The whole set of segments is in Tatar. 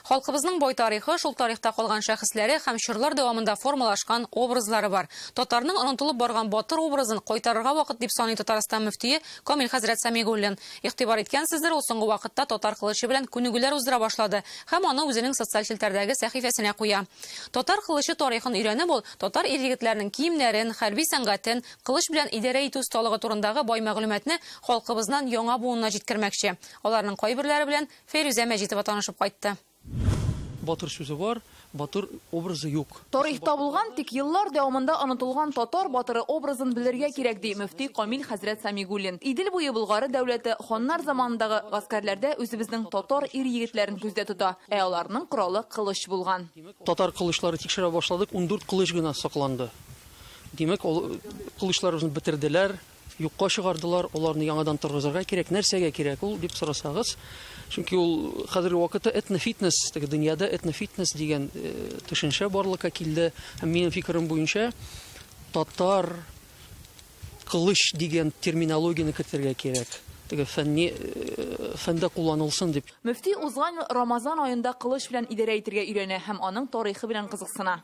Халкыбызның бай тарихы, шул тарихта калган шәхесләре һәм чорлар дәвамында формалашкан образлары бар. Татарның онытылып барган батыр образын кайтарырга вакыт дип саный Татарстан мөфтие Камил хәзрәт Самигуллин. Игътибар иткәнсездер, ул соңгы вакытта татар кылычы белән күнегүләр уздыра башлады һәм аны үзенең социаль челтәрдәге сәхифәсенә куя. Татар кылычы тарихын өйрәнеп, ул татар ир-егетләренең киемнәрен, хәрби сәнгатен, Кылыч белән идарә итү осталыгы турындагы бай мәгълүматны халкыбызнан яңа буынына җиткермәкче. Аларның кайберләре белән Фәйрүзә Мәҗитова танышып кайтты. Батыр сүзе бар, батыр образы юк. Тарихта булган, тик еллар дәвамында онытылган татар батыры образын белергә кирәк, ди мөфти Камил хәзрәт Сәмигуллин. Идел буе Болгары дәүләте ханнар заманындагы гаскәрләрдә үзебезнең татар ир-егетләрен күздә тота, ә аларның коралы кылыч булган. Татар кылычлары тикшерә башладык, ундүрт кылыч гына сакланды. Димәк, ул кылычларыбызны бетерделәр, юкка чыгардылар, аларны яңадан торгызырга кирәк. Нәрсәгә кирәк ул дип сорасагыз, чөнки ул хәзерге вакытта этнофитнес, теге дөньяда этнофитнес дигән э, төшенчә барлыкка килде. Һәм минем фикерем буенча, татар кылыч дигән терминологияне кертергә кирәк. Теге фәнни э, фәндә кулланылсын дип. Мөфти узган ел Рамазан аенда кылыч белән идарә итергә өйрәнә һәм аның тарихы белән кызыксына.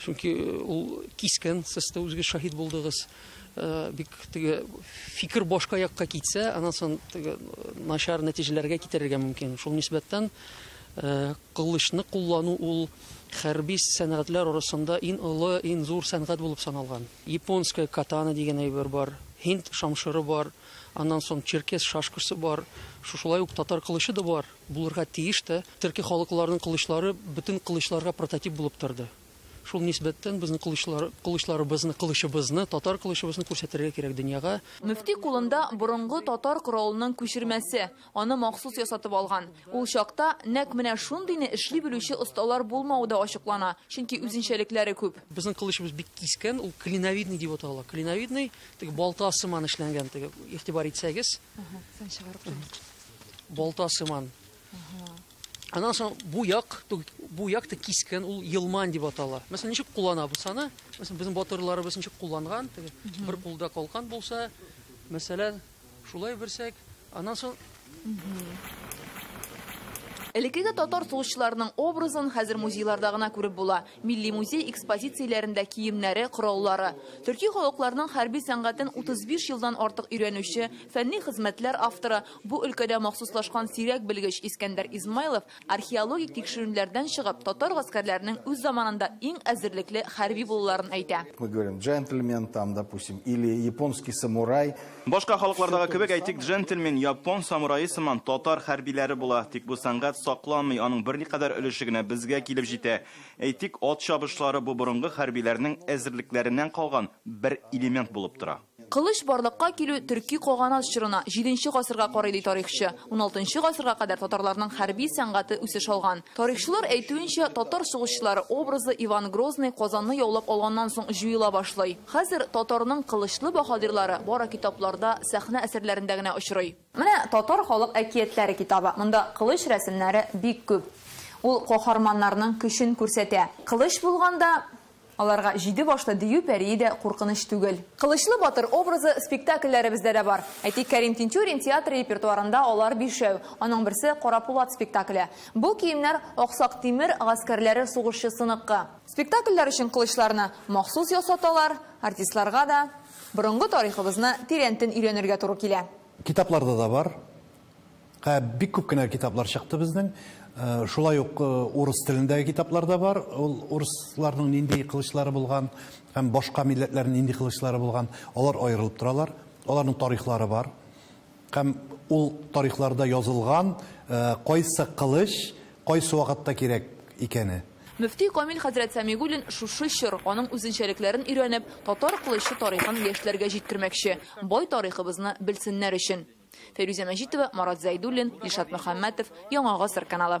Чөнки ул кискен сез дә үзегез шаһит булдыгыз. Э, бик теге фикер башка якка китсә, аннан соң теге начар нәтиҗәләргә китерергә мөмкин. Шул нисбәттән э, кылычны куллану ул хәрби сәнгатьләр арасында иң олы, иң зур сәнгать булып саналган. Японская катана дигән әйбер бар, һинд шамшыры бар, аннан соң черкес шашкасы бар, шушылай ук татар кылычы да бар. Булырга тиеш тә. Төрки халыкларның кылычлары бөтен кылычларга прототип булып торды. Шул нисбәттән безнең кылычлар, кылычларыбызны, кылычыбызны, татар кылычыбызны күрсәтергә кирәк дөньяга. Мөфти кулында борынгы татар коралының күчермәсе, аны махсус ясатып алган. Ул чакта нәкъ менә шундыйны эшли белүче осталар булмавы да ачыклана, чөнки үзенчәлекләре күп. Безнең кылычыбыз бик кискен, ул клиновидный дип атала. Клиновидный, теге балта сыман эшләнгән, теге, игътибар итсәгез. Аһа, сан чыгарып куйган. Балта сыман. Аннан соң бу як, бу як та кискен, ул елман дип атала. Мәсәлән, ничек кулланабыз аны? Мәсәлән, безнең батырларыбыз ничек кулланган? Бер кулда калкан булса, мәсәлән, шулай берсәк, аннан соң Элеккеге татар сугышчыларының образын хәзер музейларда гына күреп була. Милли музей экспозицияләрендә киемнәре, кораллары. Төрки халыкларның хәрби сәнгатен 35 елдан артык өйрәнүче, фәнни хезмәтләр авторы, бу өлкәдә махсуслашкан сирәк белгеч Искәндәр Измайлов археологик тикшеренүләрдән чыгып, татар гаскәрләренең үз заманында иң әзерлекле хәрби булуларын әйтә. Мы говорим джентльмен там, допустим, или японский самурай. Башка халыклардагы кебек, әйтик, джентльмен, япон самурае сыман татар хәрбиләре була, тик бу сәнгать сакланмый, аның берникадәр өлеше генә безгә килеп җитә. Әйтик, ат чабышлары бу борынгы хәрбиләрнең әзерлекләреннән калган бер элемент булып тора. Кылыч барлыкка килү төрки каганат чорына, җиденче гасырга карый, ди тарихчы. Уналтынчы гасырга кадәр татарларның хәрби сәнгате үсеш алган. Тарихчылар әйтүенчә, татар сугышчылары образы Иван Грозный Казанны яулап алганнан соң җуела башлый. Хәзер татарның кылычлы баһадирлары бары китапларда, сәхнә әсәрләрендә генә очрый. Менә Татар халык әкиятләре китабы. Монда кылыч рәсемнәре бик күп. Ул каһарманнарның көчен күрсәтә. Кылыч булганда, аларга җиде башлы дию пәрие дә куркыныч түгел. Кылычлы батыр образы спектакльләребездә дә бар. Әйтик, Кәрим Тинчурин театры репертуарында алар бишәү. Аның берсе, Карапулат спектакле. Бу киемнәр Аксак Тимер гаскәрләре сугышчысыныкы. Спектакльләр өчен кылычларны махсус ясаталар, артистларга да борынгы тарихыбызны тирәнтен өйрәнергә туры килә. Китапларда да бар. Һә, бик күп кенә китаплар чыкты безнең. Шулай ук урыс телендәге китаплар да бар. Ул урысларның нинди кылычлары булган һәм башка милләтләрнең нинди кылычлары булган, алар аерылып торалар. Аларның тарихлары бар. Һәм ул тарихларда язылган, кайсы кылыч кайсы вакытта кирәк икәне. Мөфти Камил хәзрәт Сәмигуллин шушы чор, аның үзенчәлекләрен өйрәнеп, татар кылычы тарихын яшьләргә җиткермәкче, бай тарихыбызны белсеннәр өчен. Фәйрүзә Мәҗитова, Марат Зәйдуллин, Илшат Мөхәммәтов, Яңа гасыр каналы.